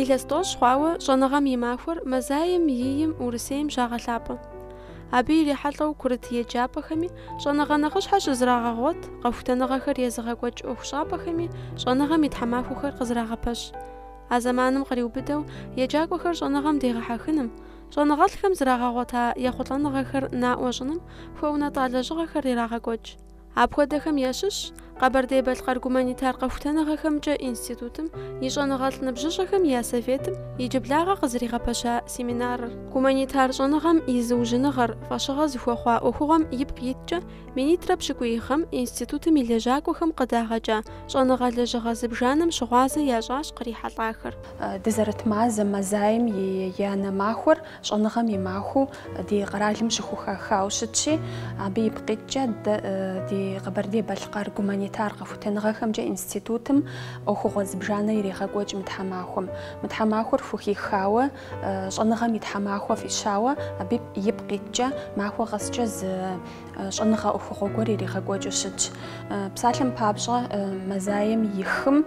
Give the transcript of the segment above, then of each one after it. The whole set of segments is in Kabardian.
Илъэс тӏощӏ хъуауэ щӏэныгъэм и махуэр мэзаем и 8-м Урысейм щагъэлъапӏэ. Абы ирихьэлӏэу курыт еджапӏэхэми щӏэныгъэ нэхъыщхьэ щызрагъэгъуэт, къэхутэныгъэхэр езыгъэкӏуэкӏ ӏуэхущӏапӏэхэми щӏэныгъэм и тхьэмахуэхэр къызрагъэпэщ. А зэманым къриубыдэу еджакӏуэхэр щӏэныгъэм дегъэхьэхыным, Щӏэныгъэлӏхэм зрагъэгъуэта ехъулӏэныгъэхэр наӏуэ щӏыным хуэунэтӏа лэжьыгъэхэр ирагъэкӏуэкӏ. Апхуэдэхэм ящыщщ Къэбэрдей-Балъкъэр гуманитар къэхутэныгъэхэмкӏэ институтым и щӏэныгъэлӏ ныбжьыщӏэхэм я советым иджыблагъэ къызэригъэпэща семинарыр. Гуманитар щӏэныгъэм и зыужьыныгъэр фӏэщыгъэ зыхуэхъуа ӏуэхугъуэм ипкъ иткӏэ минитӏрэ пщыкӏуий гъэм институтым и лэжьакӏуэхэм къыдагъэкӏа щӏэныгъэ лэжьыгъэ зыбжанэм щыгъуазэ ящӏащ кърихьэлӏахэр. Дызэрыт мазэм, мэзаем и янэ махуэр щӏэныгъэм и махуэу ди къэралым щыхухахауэ щытщи, абы ипкъ иткӏэ ди Къэбэрдей-Балъкъэр гуманитар къэхутэныгъэхэмкӏэ институтым ӏуэхугъуэ зыбжанэ ирегъэкӏуэкӏ мы тхьэмахуэм. Мы тхьэмахуэр хухихауэ, щӏэныгъэм и тхьэмахуэ фӏищауэ, абы ипкъ иткӏэ махуэ къэскӏэ зы щӏэныгъэ ӏуэхугъуэ гуэр иригъэкӏуэкӏыу щытщ. Псалъэм папщӏэ, мэзаем и хым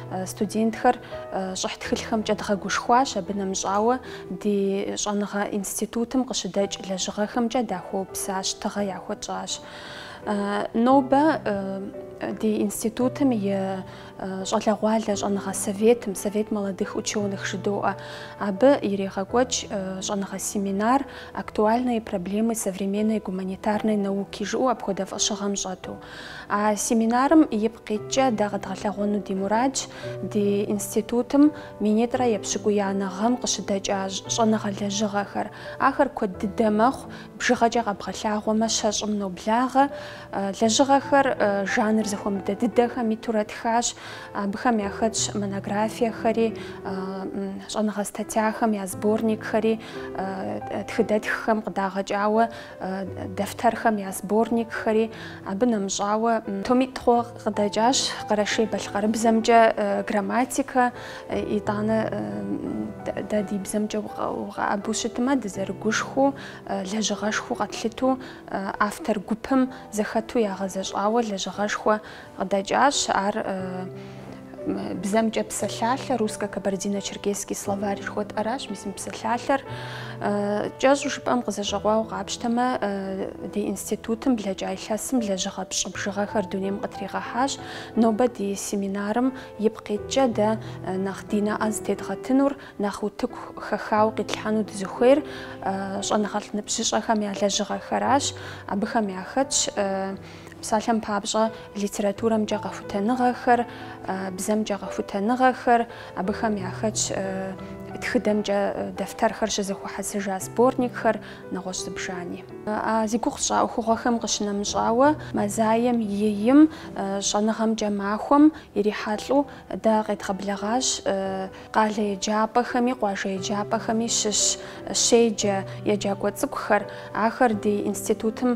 Студентхэр щӏыхь тхылъхэмкӏэ дгъэгушхуащ, абы нэмыщӏауэ ди щӏэныгъэ институтым къыщыдэкӏ лэжьыгъэхэмкӏэ дахуэупсащ, тыгъэ яхуэтщӏащ. Нобэ ди институтым и щӏалэгъуалэ щӏэныгъэ советым, Совет молодых ученых жыдоӏэ, абы ирегъэкӏуэкӏ щӏэныгъэ семинар «Актуальные проблемы современной гуманитарной науки» жыӏэу апхуэдэ фӏэщыгъэм щӏэту. А семинарым ипкъ иткӏэ дэ къэдгъэлъэгъуэну ди мурадщ ди институтым минитӏрэ епщыкӏуиянэ гъэм къыщыдэкӏа щӏэныгъэ лэжьыгъэхэр. Ахэр куэд дыдэ мэхъу, бжыгъэкӏэ къэбгъэлъагъуэмэ щэщӏым ноблагъэ. Лэжьыгъэхэр жанр зэхуэмыдэ дыдэхэм итурэ тхащ. Абыхэм яхэтщ монографиехэри, щӏэныгъэ статьяхэм я сборникхэри, тхыдэтххэм къыдагъэкӏауэ дэфтэрхэм я сборникхэри абы нэмыщӏауэ томитӏ хъууэ къыдэкӏащ къэрэшей-балъкъэрыбзэмкӏэ грамматикэ, итӏанэ дэ ди бзэмкӏэ укъэӏэбу щытмэ, дызэрыгушхуэу, лэжьыгъэшхуэу къэтлъыту автор гупым зэхэту ягъэзэщӏауэ лэжьыгъэшхуэ Къыдэкӏащ ар бзэмкӏэ псалъалъэ, русско-кабардино-черкесский словарь жыхуэтӏэращ, мис мы псалъалъэр кӏэщӏу жыпӏэм къызэщӏэкъуауэ къапщтэмэ, ди институтым блэкӏа илъэсым лэжьыгъэ пщӏы бжыгъэхэр дунейм къытригъэхьащ. Нобэ ди семинарым ипкъ иткӏэ дэ нэхъ ди нэӏэ зытедгъэтынур, нэхъ утыку хэхауэ къитлъхьэну дызыхуейр щӏэныгъэлӏ ныбжьыщӏэхэм я лэжьыгъэхэращ, абыхэм яхэтщ Псалъэм папщӏэ, литературэмкӏэ къэхутэныгъэхэр, бзэмкӏэ къэхутэныгъэхэр, абыхэм яхэтщ тхыдэмкӏэ дэфтэрхэр щызэхуэхьэсыжа сборникхэр, нэгъуэщӏ зыбжани. А зи гугъу сщӏа ӏуэхугъуэхэм къыщынэмыщӏауэ, мазаем и ийм щӏэныгъэмкӏэ махуэм ирихьэлӏэу дэ къедгъэблэгъащ Къалэ еджапӏэхэми къуажэ еджапӏэхэми щыщ щеджэ еджакӏуэ цӏыкӏухэр, ахэр ди институтым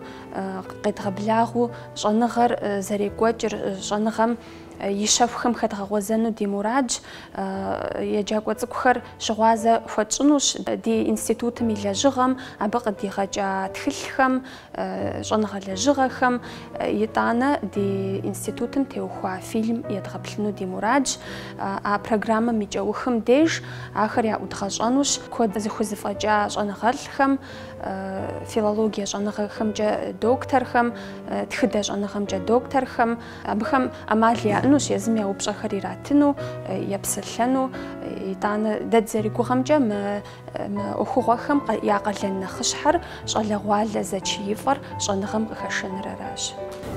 къедгъэблагъэу щӏэныгъэр зэрекӏуэкӏыр щӏэныгъэм и щэхухэм хэдгъэгъуэзэну ди мурадщ. Еджакӏуэ цӏыкӏухэр щыгъуазэ хуэтщӏынущ ди институтым и лэжьыгъэм, абы къыдигъэкӏа тхылъхэм, щӏэныгъэ лэжьыгъэхэм, итӏанэ ди институтым теухуа фильм едгъэплъыну ди мурадщ. А программэм и кӏэухым деж ахэр яӏудгъэщӏэнущ куэд зыхузэфӏэкӏа щӏэныгъэлӏхэм, филологие щӏэныгъэхэмкӏэ докторхэм, тхыдэ щӏэныгъэмкӏэ докторхэм. Абыхэм ӏэмал яӏэнущ езым я упщӏэхэр иратыну, епсэлъэну. Итӏанэ дэ дызэригугъэмкӏэ мы Мы ӏуэхугъуэхэм я къалэн нэхъыщхьэр щӏалэгъуалэ зэчиифӏэр щӏэныгъэм къыхэшэныр аращ.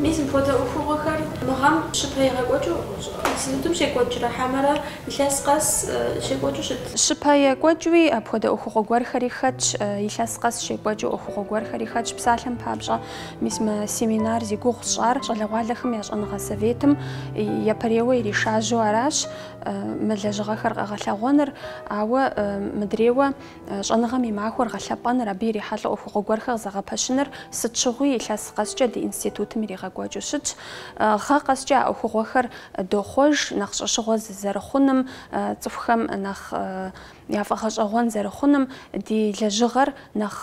Мис мыпхуэдэ ӏуэхугъуэхэр мы гъэм щыпэ екӏуэкӏыу институтым щекӏуэкӏрэ хьэмэрэ илъэс къэс щекӏуэкӏыу щыт? Щыпэ екӏуэкӏуи апхуэдэ ӏуэхугъуэ гуэрхэри хэтщ, илъэс къэс щекӏуэкӏыу ӏуэхугъуэ гуэрхэри хэтщ. Псалъэм папщӏэ, мис мы семинар зи гугъу сщӏар щӏалэгъуалэхэм я щӏэныгъэ советым япэрейуэ иришажьэу аращ. мы лэжьыгъэхэр къэгъэлъэгъуэныр, ауэ мыдрейуэ щӏэныгъэм и махуэр гъэлъэпӏэныр, абы ирихьэлӏэу ӏуэхугъуэ гуэрхэр зэгъэпэщыныр сыт щыгъуи илъэс къэскӏэ ди институтым иригъэкӏуэкӏыу щытщ. Гъэ къэскӏэ а ӏуэхугъуэхэр дохъуэж нэхъ щӏэщыгъуэ зэрыхъуным, цӏыхухэм нэхъ я фӏэгъэщӏэгъуэн зэрыхъуным, ди лэжьыгъэр нэхъ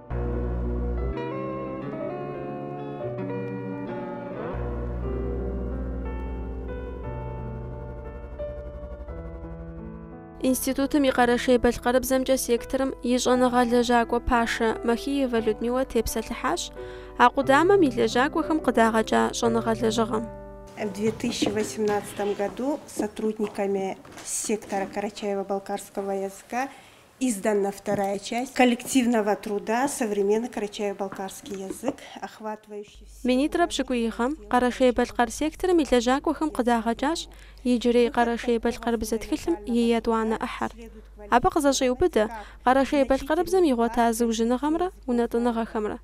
Институтым и къэрэшей-балъкъэрыбзэмкӏэ секторым и щӏэныгъэ лэжьакӏуэ пашэ Махиевэ Людмилэ тепсэлъыхьащ а къудамэм и лэжьакӏуэхэм къыдагъэкӏа щӏэныгъэ лэжьыгъэм. В 2018 году сотрудниками сектора карачаево-балкарского языка Издана вторая часть коллективного труда Современный карачаево-балкарский язык, охватывающий все Минитӏрэ пщыкӏуий гъэм Къэрэшей-Балъкъэр секторым и лэжьакӏуэхэм къыдагъэкӏащ иджырей Къэрэшей-Балъкъэрыбзэ тхылъым и етӏуанэ ӏыхьэр. Абы къызэщӏеубыдэ Къэрэшей-Балъкъэрыбзэм игъуэта зыужьыныгъэмрэ унэтӏыныгъэхэмрэ.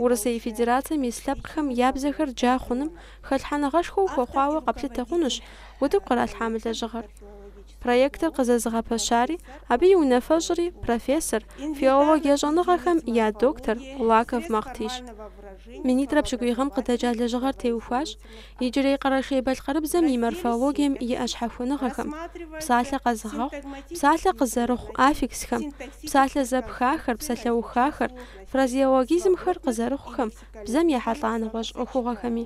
Урысей Федерацэм ис лъэпкъхэм я бзэхэр джа хъуным хэлъхьэныгъэшхуэу хуэхъуауэ къэплъытэ хъунущ утыку къралъхьа мы лэжьыгъэр. Проектыр къызэзыгъэпэщари, абы и унафэщӏри профессор, филологие щӏэныгъэхэм я доктор Улаков Махътищ. Минитӏрэ пщыкӏуий гъэм къыдэкӏа лэжьыгъэр теухуащ иджырей къэрэшей-балъкъэрыбзэм и морфологием иӏэ щхьэхуэныгъэхэм, псалъэ къэзыгъэхъу, псалъэ къызэрыхъу аффиксхэм, псалъэ зэпхахэр, псалъэухахэр, фразеологизмхэр къызэрыхъухэм, бзэм ехьэлӏа нэгъуэщӏ ӏуэхугъуэхэми.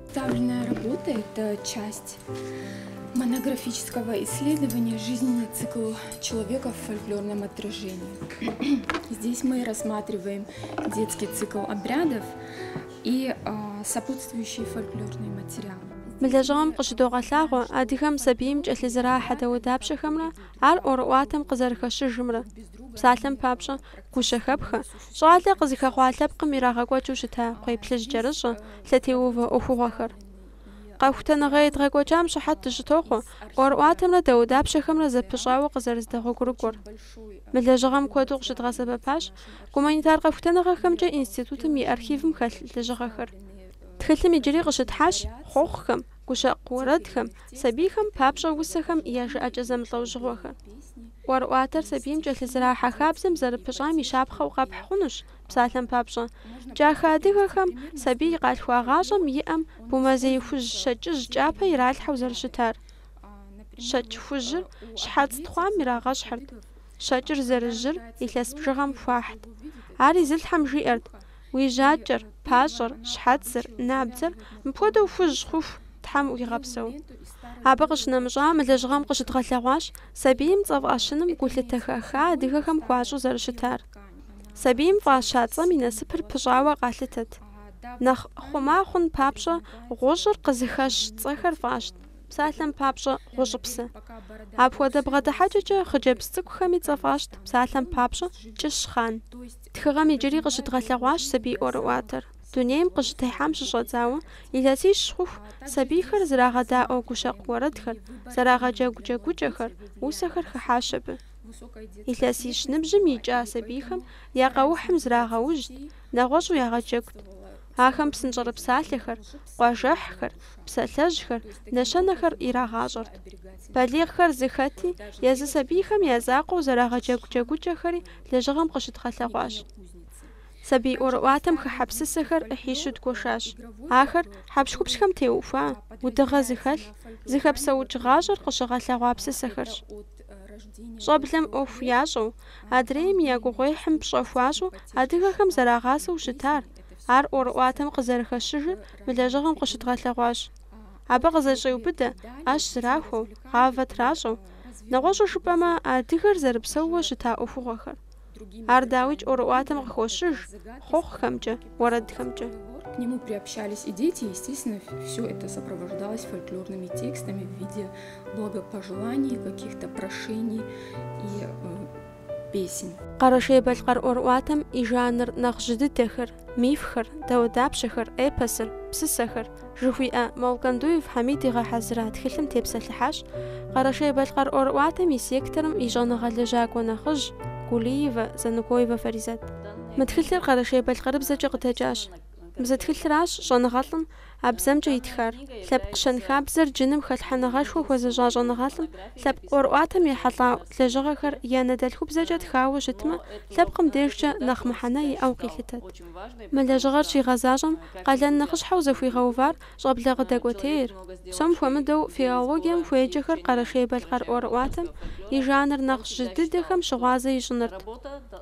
Представленная работа это часть монографического исследования жизненный цикл человека в фольклорном отражении. Здесь мы рассматриваем детский цикл обрядов и а, сопутствующие фольклорные материалы. Мы лэжьыгъэм къыщыдогъэлъагъуэ адыгэм сабийм кӏэлъызэрахьэ дауэдапщэхэмрэ ар ӏуэрыӏуатэм къызэрыхэщыжымрэ. Псалъэм папщӏэ, Гущэхэпхэ, щӏалэ къызыхэхъуа лъэпкъым ирагъэкӏуэкӏыу щыта кхъуейплъыжькӏэрыщӏэ, лъэтеувэ ӏуэхугъуэхэр. Къэхутэныгъэ едгъэкӏуэкӏам щыхьэт дыщытохъуэ ӏуэрыӏуатэмрэ дауэдапщэхэмрэ зэпыщӏауэ къызэрыздэгъуэгурыкӏуэр. Мы лэжьыгъэм куэду къыщыдгъэсэбэпащ гуманитар къэхутэныгъэхэмкӏэ институтым и архивым хэлъ лэжьыгъэхэр. Тхылъым иджыри къыщытхьащ хъуэхъухэм, гущэкъу уэрэдхэм, Сабийхэм папщӏэ усэхэм я жыӏэкӏэ зэмылӏэужьыгъуэхэ. ӏуэрыӏуатэр сабийм кӏэлъызэрахьэ хабзэм зэрыпыщӏам и щапхъэу къэпхь хъунущ, псалъэм папщӏэ. Кӏахэ адыгэхэм сабий къалъхуагъащӏэм и ӏэм бумэзей хужь щэкӏыжь кӏапэ иралъхьэу зэрыщытар. Щэкӏ хужьыр щхьэц тхъуам ирагъэщхьырт, щэкӏыр зэрыжьыр илъэс бжыгъэм хуахьт. Ар изылъхьэм жиӏэрт, Уи жьакӏэр, пащӏэр, щхьэцыр, набдзэр мыпхуэдэу хужь хъуху Тхьэм уигъэпсэу. Абы къыщынэмыщӏа мы лэжьыгъэм къыщыдгъэлъэгъуащ сабийм цӏэ фӏэщыным гулъытэ хэха адыгэхэм хуащӏу зэрыщытар. Сабийм фӏаща цӏэм и насыпыр пыщӏауэ къалъытэт. Нэхъ хъума хъун папщӏэ гъущӏыр къызыхэщ цӏэхэр фӏащт, псалъэм папщӏэ Гъущӏыпсэ. Апхуэдэ бгъэдыхьэкӏэкӏэ хъыджэбз цӏыкӏухэми цӏэ фӏащт псалъэм папщӏэ Кӏыщхъан. Тхыгъэм иджыри къыщыдгъэлъэгъуащ сабий ӏуэрыӏуатэр. Дунейм къыщытехьам щыщӏэдзауэ, илъэсищ хъуху сабийхэр зрагъэдаӏуэ гущэкъу уэрэдхэр, зэрагъэджэгу джэгукӏэхэр, усэхэр хыхьащ абы. Илъэсищ ныбжьым икӏа сабийхэм я къэухьым зрагъэужьт, нэгъуэщӏу ягъэджэгут. Ахэм псынщӏэрыпсалъэхэр, къуажэхьхэр, псалъэжьхэр, нэщэнэхэр ирагъащӏэрт. Балигъхэр зыхэти, езы сабийхэм я закъуэу зэрагъэджэгу джэгукӏэхэри лэжьыгъэм къыщыдгъэлъэгъуащ. Сабий ӏуэрыӏуатэм хыхьэ псысэхэр ӏыхьищу дгуэшащ. Ахэр хьэпщхупщхэм теухуа, удыгъэ зыхэлъ, зыхэпсэукӏ гъащӏэр къыщыгъэлъэгъуа псысэхэрщ. Щӏэблэм ӏуэху ящӏэу, адрейм я гугъуехьым пщӏэ хуащӏу адыгэхэм зэрагъасэу щытар, ар ӏуэрыӏуатэм къызэрыхэщыжыр мы лэжьыгъэм къыщыдгъэлъэгъуащ. Абы къызэщӏеубыдэ ӏэщ зрахуэу, гъавэ тращӏэу, Нэгъуэщӏу жыпӏэмэ, адыгэр зэрыпсэууэ щыта ӏуэхугъуэхэр. Ар дауикӏ ӏуэрыӏуатэм къыхощыж, хъуэхъухэмкӏэ, уэрэдхэмкӏэ. К нему приобщались и дети, и, естественно, все это сопровождалось фольклорными текстами в виде благопожеланий, каких-то прошений и песен. Къэрэшей-Балъкъэр ӏуэрыӏуатэм и жанр нэхъ жьы дыдэхэр, мифхэр, дауэдапщэхэр, эпосыр, псысэхэр, жыхуиӏэ Молкандуев Хьэмид игъэхьэзыра тхылъым тепсэлъыхьащ Къэрэшей-Балъкъэр ӏуэрыӏуатэм и секторым и щӏэныгъэ лэжьакӏуэ нэхъыжь Гулиевэ Занукоевэ Фаризэт. Мы тхылъыр Къэрэшей-Балъкъэрыбзэкӏэ къыдэкӏащ. Мы зы тхылъыращ щӏэныгъэлӏым а бзэмкӏэ итхар. Лъэпкъ щэнхабзэр джыным хэлъхьэныгъэшхуэ хуэзыщӏа щӏэныгъэлӏым лъэпкъ ӏуэрыӏуатэм ехьэлӏа лэжьыгъэхэр я анэдэлъхубзэкӏэ тхауэ щытмэ, лъэпкъым дежкӏэ нэхъ мыхьэнэ иӏэу къилъытэт. Мы лэжьыгъэр щигъэзащӏэм къалэн нэхъыщхьэу зыхуигъэувар щӏэблэ къыдэкӏуэтейр, псом хуэмыдэу филологием хуеджэхэр Къэрэшей-Балъкъэр ӏуэрыӏуатэм и жанр нэхъ жьы дыдэхэм щыгъуазэ ищӏынырт.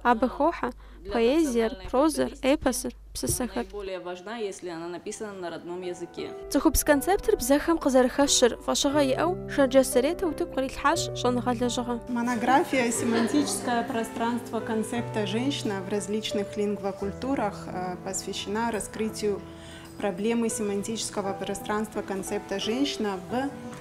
Абы хохьэ поэзиер, прозэр, эпосыр. псысэхэр. Цӏыхубз концептыр бзэхэм къызэрыхэщыр фӏэщыгъэ иӏэу Шэрджэс Заретэ утыку кърилъхьащ щӏэныгъэ лэжьыгъэ. Монография Семантическое пространство концепта женщина в различных лингвокультурах посвящена раскрытию проблемы семантического пространства концепта женщина в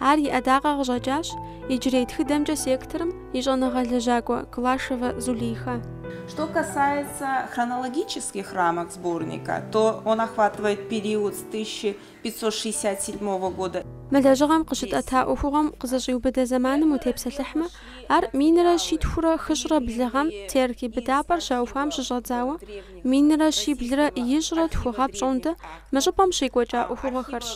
Ар и ӏэдакъэ къыщӏэкӏащ иджырей тхыдэмкӏэ секторым и щӏэныгъэ лэжьакӏуэ Глашевэ Зулейхэ. Что касается хронологических рамок сборника, то он охватывает период с тысяча пятьсот шестьдесят седьмого года и. Мы лэжьыгъэм къыщытӏэта ӏуэхугъуэм къызэщӏиубыдэ зэманым утепсэлъыхьмэ, ар минрэ щитхурэ хыщӏрэ блы гъэм Терки быдапӏэр щаухуам щыщӏэдзауэ минрэ щиблрэ ищӏрэ тху гъэ пщӏондэ мы щӏыпӏэм щекӏуэкӏа ӏуэхугъуэхэрщ.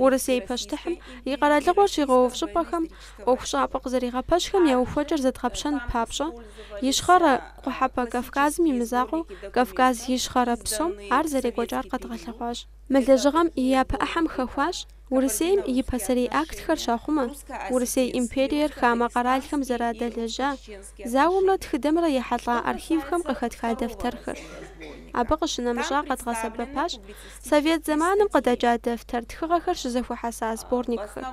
Урысей пащтыхьым и къэралыгъуэр щигъэув щӏыпӏэхэм ӏуэхущӏапӏэ къызэригъэпэщхэм я ухуэкӏэр зэдгъэпщэн папщӏэ, Ищхъэрэ Къухьэпӏэ Кавказым и мызакъуэу Кавказ Ищхъэрэ псом ар зэрекӏуэкӏар къэдгъэлъэгъуащ. Мы лэжьыгъэм и япэ ӏыхьэм хэхуащ Урысейм и пасэрей актхэр щахъумэ, Урысей империер хамэ къэралхэм зэрадэлэжьа зауэмрэ тхыдэмрэ ехьэлӏа архивхэм къыхэтха дэфтэрхэр. Абы къыщынэмыщӏа къэдгъэсэбэпащ Совет зэманым къыдэкӏа дэфтэр, тхыгъэхэр щызэхуэхьэса сборникхэр.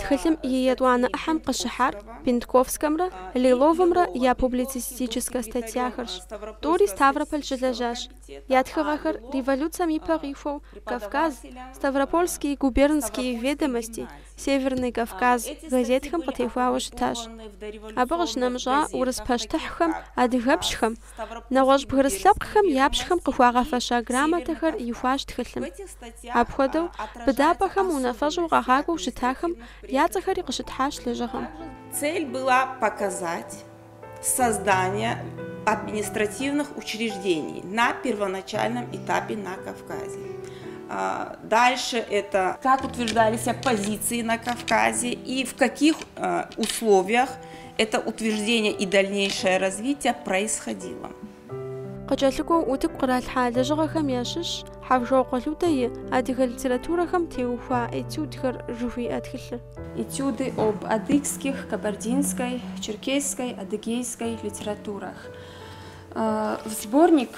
Тхылъым и етӏуанэ ӏыхьэм къыщыхьар Бентковскэмрэ Лиловымрэ я публицистическэ статьяхэрщ. Тӏури Ставрополь щылэжьащ. Я тхыгъэхэр революцэм и пэ къихуэу Кавказ, Ставропольские губернские ведомости, Северный Кавказ газетхэм къытехуауэ щытащ. Абы къыщынэмыщӏа урыс пащтыхьхэм адыгэпщхэм нэгъуэщӏ бгырыс лъэпкъхэм я пщхэм къыхуагъэфэща грамотэхэр ихуащ тхылъым. Апхуэдэу, быдапӏэхэм унафэщӏу къагъакӏуэу щытахэм я цӏэхэри къыщытхьащ лэжьыгъэм. Цель была показать создание административных учреждений на первоначальном этапе на Кавказе. Дальше это как утверждались позиции на Кавказе и в каких условиях это утверждение и дальнейшее развитие происходило. Къыкӏэлъыкӏуэу утыку къралъхьа лэжьыгъэхэм ящыщщ Хьэвжокъуэ Людэ и Адыгэ литературэхэм теухуа этюдхэр жыхуиӏэ тхылъыр. Этюды об адыгских, кабардинской, черкесской, адыгейской литературах. В сборник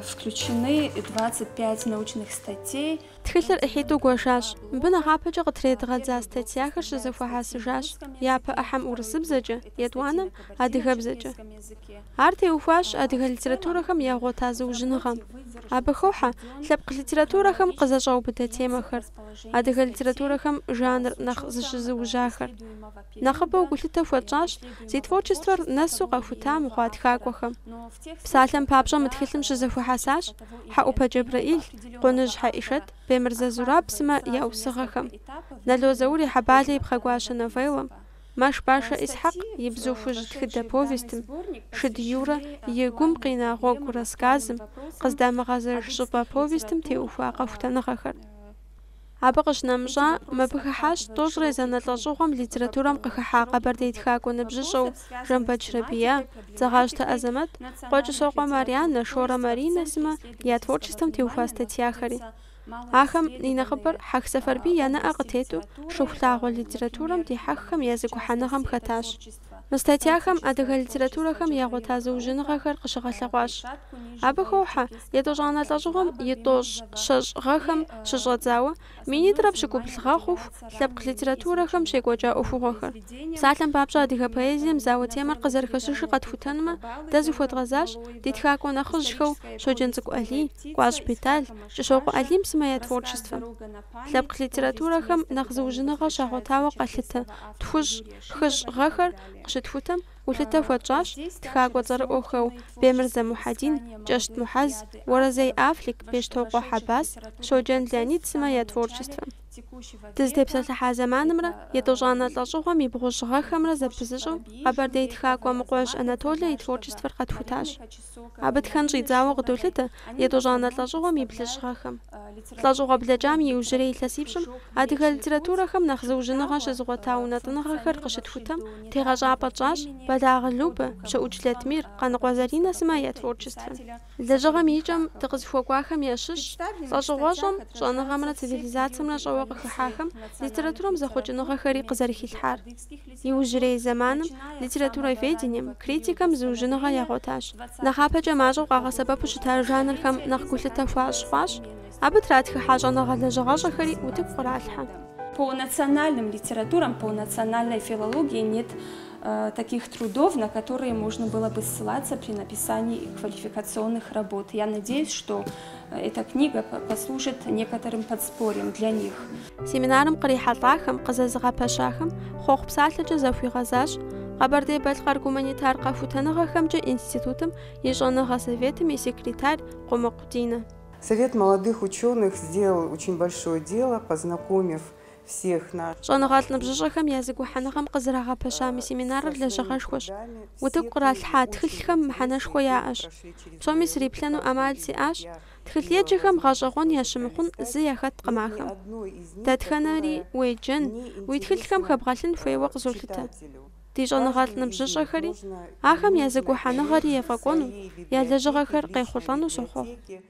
включены двадцать пять научных статей. Тхылъыр ӏыхьитӏу гуэшащ. Мыбы нэхъапэкӏэ къытредгъэдза статьяхэр щызэхуэхьэсыжащ япэ ӏыхьэм урысыбзэкӏэ, етӏуанэм, адыгэбзэкӏэ. Ар теухуащ адыгэ литературэхэм ягъуэта зыужьыныгъэм. Абы хохьэ лъэпкъ литературэхэм къызэщӏаубыдэ темэхэр, адыгэ литературэхэм жанр нэхъ зыщызыужьахэр. Нэхъыбэу гулъытэ хуэтщӏащ зи творчествэр нэсу къэхута мыхъуа тхакӏуэхэм. Псалъэм папщӏэ мы тхылъым щызэхуэхьэсащ Хьэӏупэ Джэбрэӏил, Къуныжь Хьэӏишэт, Бемырзэ Зураб сымэ я усыгъэхэм, Нало Заур и Хьэбалэ и пхъэгуащэ новеллэм, Мэшбащӏэ Исхьэкъ и Бзу хужь тхыдэ повестым, Шыд Юрэ и Гум къина гъуэгу рассказым, Къыздамыгъэзэж щӏыпӏэ повестым теухуа къэхутэныгъэхэр. Абы къыщынэмыщӏа, мыбы хыхьащ тӏощӏрэ езанэ лӏэщӏыгъуэм литературэм къыхыхьа къэбэрдей тхакӏуэ ныбжьыщӏэу Жамбэч Рабия, Дзэгъащтэ Азэмэт, Къуэщӏысокъуэ Марьянэ, Шорэ Маринэ сымэ я творчествэм теухуа статьяхэри. Ахэм и нэхъыбэр Хьэх Сэфарбий я нэӏэ къытету Шыхулъагъуэ литературэм дихьэххэм я зэгухьэныгъэм хэтащ. Мы статьяхэм адыгэ литературэхэм ягъуэта зыужьыныгъэхэр къыщыгъэлъэгъуащ. Абы хохьэ етӏощӏанэ лӏэщӏыгъуэм и тӏощӏ щэщӏ гъэхэм щыщӏэдзауэ минитӏрэ пщыкӏубл гъэ хъуху лъэпкъ литературэхэм щекӏуэкӏа ӏуэхугъуэхэр. Псалъэм папщӏэ, адыгэ поэзием зауэ темэр къызэрыхэщыжыр къэтхутэнмэ, дэ зыхуэдгъэзащ ди тхакӏуэ нэхъыжьхэу Щоджэнцӏыкӏу Алий, Кӏуащ Бетӏал, Кӏыщокъуэ Алим сымэ я творчествэм. Лъэпкъ литературэхэм нэхъ зыужьыныгъэ щагъуэтауэ къалъытэ тхущӏ, хыщӏ гъэхэр къыщытхутэм, гулъытэ хуэтщӏащ тхакӏуэ цӏэрыӏуэхэу Бемырзэ Мухьэдин, Кӏэщт Мухьэз, Уэрэзей Афлик, Бещтокъуэ Хьэбас, Щоджэн Леонид сымэ я творчествэм. Дызытепсэлъыхьа зэманымрэ етӏощӏанэ лӏэщӏыгъуэм и бгъущӏ гъэхэмрэ зэпызыщӏэу къэбэрдей тхакӏуэ Мыкъуэжь Анатолэ и творчествэр къэтхутащ. Абы тхэн щӏидзауэ къыдолъытэ етӏощӏанэ лӏэщӏыгъуэм и блыщӏ гъэхэм. Лӏэщӏыгъуэ блэкӏам и иужьрей илъэсипщӏым адыгэ литературэхэм нэхъ зыужьыныгъэ щызыгъуэта унэтӏыныгъэхэр къыщытхутэм тегъэщӏапӏэ тщӏащ Бэлагъы Любэ, Пщыукӏ Латмир, Къаныкъуэ Заринэ сымэ я творчествэм. Лэжьыгъэм и кӏэм дыкъызыхуэкӏуахэм ящыщщ лӏэщӏыгъуэщӏэм, щӏэныгъэмрэ цивилизацэмрэ щӏэуэ къыхыхьахэм литературэм зэхъуэкӏыныгъэхэри къызэрыхилъхьар. Иужьрей зэманым литературоведением, критикэм зыужьыныгъэ ягъуэтащ. Нэхъапэкӏэ мащӏэу къагъэсэбэпу щытар жанрхэм нэхъ гулъытэ хуащӏ хъуащ, абы тратхыхьа щӏэныгъэ лэжьыгъэщӏэхэри утыку къралъхьэ. По национальным литературам, по национальной филологии нет таких трудов, на которые можно было бы ссылаться при написании квалификационных работ. Я надеюсь, что Эта книга послужит некоторым подспорьем для них. Семинарым кърихьэлӏахэм, къызэзыгъэпэщахэм хъуэхъу псалъэкӏэ захуигъэзащ Къэбэрдей-Балъкъэр гуманитар къэхутэныгъэхэмкӏэ институтым и щӏэныгъэ советым и секретарь Къумыкъу Динэ. Совет молодых ученых сделал очень большое дело, познакомив всех нас. Щӏэныгъэлӏ ныбжьыщӏэхэм я зэгухьэныгъэм къызэрагъэпэща мы семинарыр лэжьыгъэшхуэщ. Утыку къралъхьа тхылъхэм мыхьэнэшхуэ яӏэщ. Псоми сриплъэну ӏэмал сиӏащ, тхылъеджэхэм гъэщӏэгъуэн ящымыхъун зы яхэткъым ахэм. Дэтхэнэри уеджэн, уи тхылъхэм хэбгъэлъын хуейуэ къызолъытэ. Ди щӏэныгъэлӏ ныбжьыщӏэхэри, ахэм я зэгухьэныгъэри ефӏэкӏуэну, я лэжьыгъэхэр къехъулӏэну сохъуэхъу.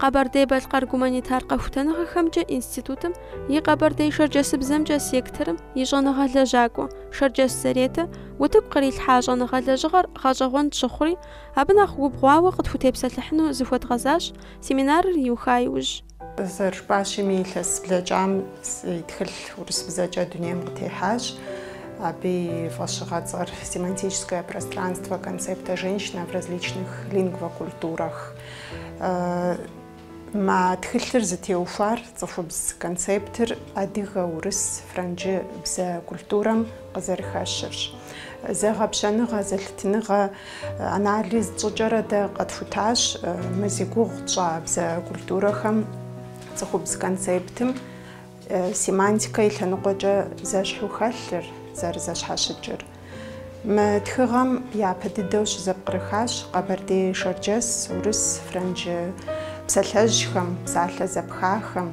Къэбэрдей-Балъкъэр гуманитар къэхутэныгъэхэмкӏэ институтым и къэбэрдей-шэрджэсыбзэмкӏэ секторым и щӏэныгъэ лэжьакӏуэ Шэрджэс Заретэ утыку кърилъхьа щӏэныгъэ лэжьыгъэр гъэщӏэгъуэн тщыхъури, абы нэхъ убгъуауэ къытхутепсэлъыхьыну зыхуэдгъэзащ семинарыр иуха иужь. Зэрыжыпӏащими, илъэс блэкӏам си тхылъ урысыбзэкӏэ дунейм къытехьащ. Абы и фӏэщыгъэцӏэр «Семантическое пространство концепта женщина в различных лингвокультурах». Мы тхылъыр зытеухуар цӏыхубз концептыр адыгэ, урыс, франджы бзэ культурэм къызэрыхэщырщ. Зэгъэпщэныгъэ, зэлъытыныгъэ анализ тщӏыкӏэрэ дэ къэтхутащ мы зи гугъу тщӏа бзэ культурэхэм цӏыхубз концептым семантикэ и лъэныкъуэкӏэ зэщхьу хэлъыр, зэрызэщхьэщыкӏыр. Мы тхыгъэм япэ дыдэу щызэпкърыхащ къэбэрдей-шэрджэс, урыс, франджы псалъэжьхэм, псалъэ зэпхахэм,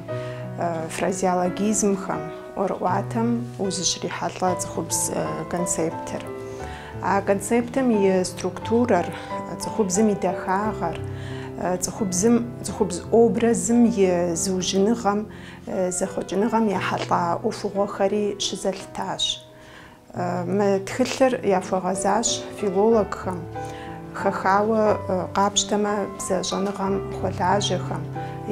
фразеологизмхэм. ӏуэрыӏуатэм узыщрихьэлӏэ цӏыхубз концептыр. А концептым и структурэр, цӏыхубзым и дахагъэр, цӏыхубзым, цӏыхубз образым и зыужьыныгъэм, зэхъуэкӏыныгъэм ехьэлӏа ӏуэхугъуэхэри щызэлъытащ. Мы тхылъыр яхуэгъэзащ филологхэм, хэхауэ къапщтэмэ бзэ щӏэныгъэм хуэлажьэхэм,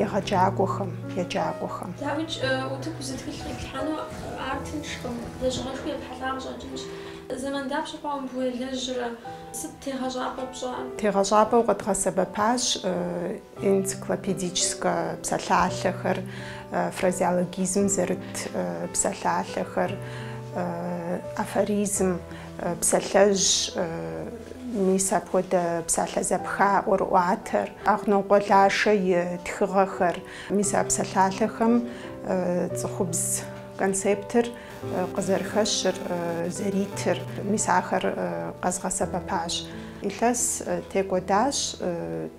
егъэджакӏуэхэм, еджакӏуэхэм. Дауикӏ утыку зы тхылъ къиплъхьэну ар тыншкъым, лэжьыгъэшхуи епхьэлӏа къыщӏэкӏынщ. Зэман дапщэ хъуауэ мыбы уелэжьрэ? Сыт тегъэщӏапӏэ пщӏар? Тегъэщӏапӏэу къэдгъэсэбэпащ. Энциклопедическэ псалъалъэхэр, фразеологизм зэрыт псалъалъэхэр, афоризм, псалъэжь, мис апхуэдэ псалъэ зэпха, ӏуэрыӏуатэр, Агънокъуэ Лашэ и тхыгъэхэр. Мис а псалъалъэхэм цӏыхубз концептыр къызэрыхэщыр, зэритыр, мис ахэр къэзгъэсэбэпащ. Илъэс текӏуэдащ.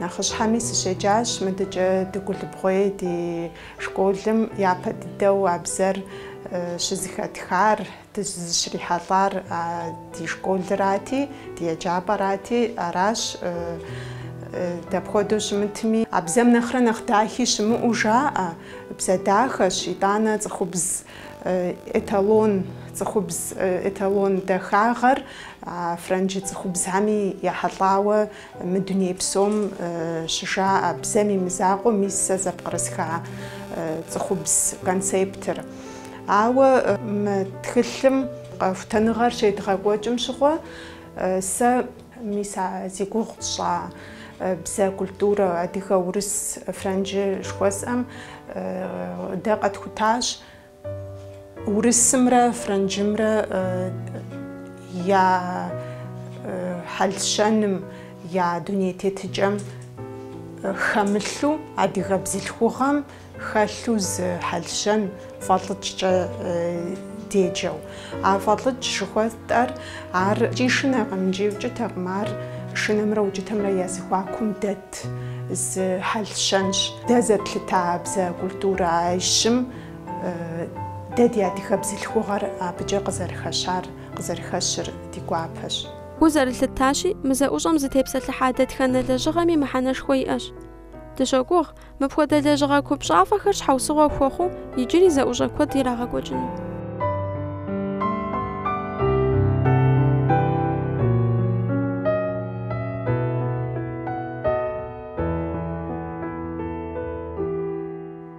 Нэхъыщхьэми сыщеджащ мыдэкӏэ Дыгулыбгъуей ди школым, япэ дыдэу а бзэр щызэхэтхар, дызыщрихьэлӏар а ди школырати, ди еджапӏэрати, аращ. Дапхуэдэу щымытми, а бзэм нэхърэ нэхъ дахи щымыӏэу жаӏэ, бзэ дахэщ, итӏанэ цӏыхубз эталон, цӏыхубз эталон дахагъэр а франджы цӏыхубзхэми ехьэлӏауэ Мы дуней псом щыжаӏэ бзэм и мызакъуэу мис сэ зэпкърысха цӏыхубз концептыр. Ауэ мы тхылъым къэхутэныгъэр щедгъэкӏуэкӏым щыгъуэ сэ мис а зи гугъу тщӏа бзэ культурэ адыгэ, урыс, франджы жыхуэсӏэм дэ къэтхутащ. Урысымрэ франджымрэ я хьэл-щэным, я дуней тетыкӏэм хэмылъу, адыгэ бзылъхугъэм хэлъу зы хьэл-щэн фӏэлӏыкӏкӏэ деджэу. А фӏэлӏыкӏ жыхуэтӏэр ар икӏи шынэкъым, икӏи укӏытэкъым, ар шынэмрэ укӏытэмрэ я зэхуакум дэт зы хьэл-щэнщ. Дэ зэтлъыта бзэ культурищым, Дэ ди адыгэ бзылъхугъэр абыкӏэ къызэрыхэщар, къызэрыхэщыр ди гуапэщ. Гу зэрылъыттащи, мы зэӏущӏэм зытепсэлъыхьа дэтхэнэ лэжьыгъэми мыхьэнэшхуэ иӏэщ. Дыщогугъ, мыпхуэдэ лэжьыгъэ купщӏафӏэхэр щхьэусыгъуэ хуэхъуу иджыри зэӏущӏэ куэд ирагъэкӏуэкӏыну.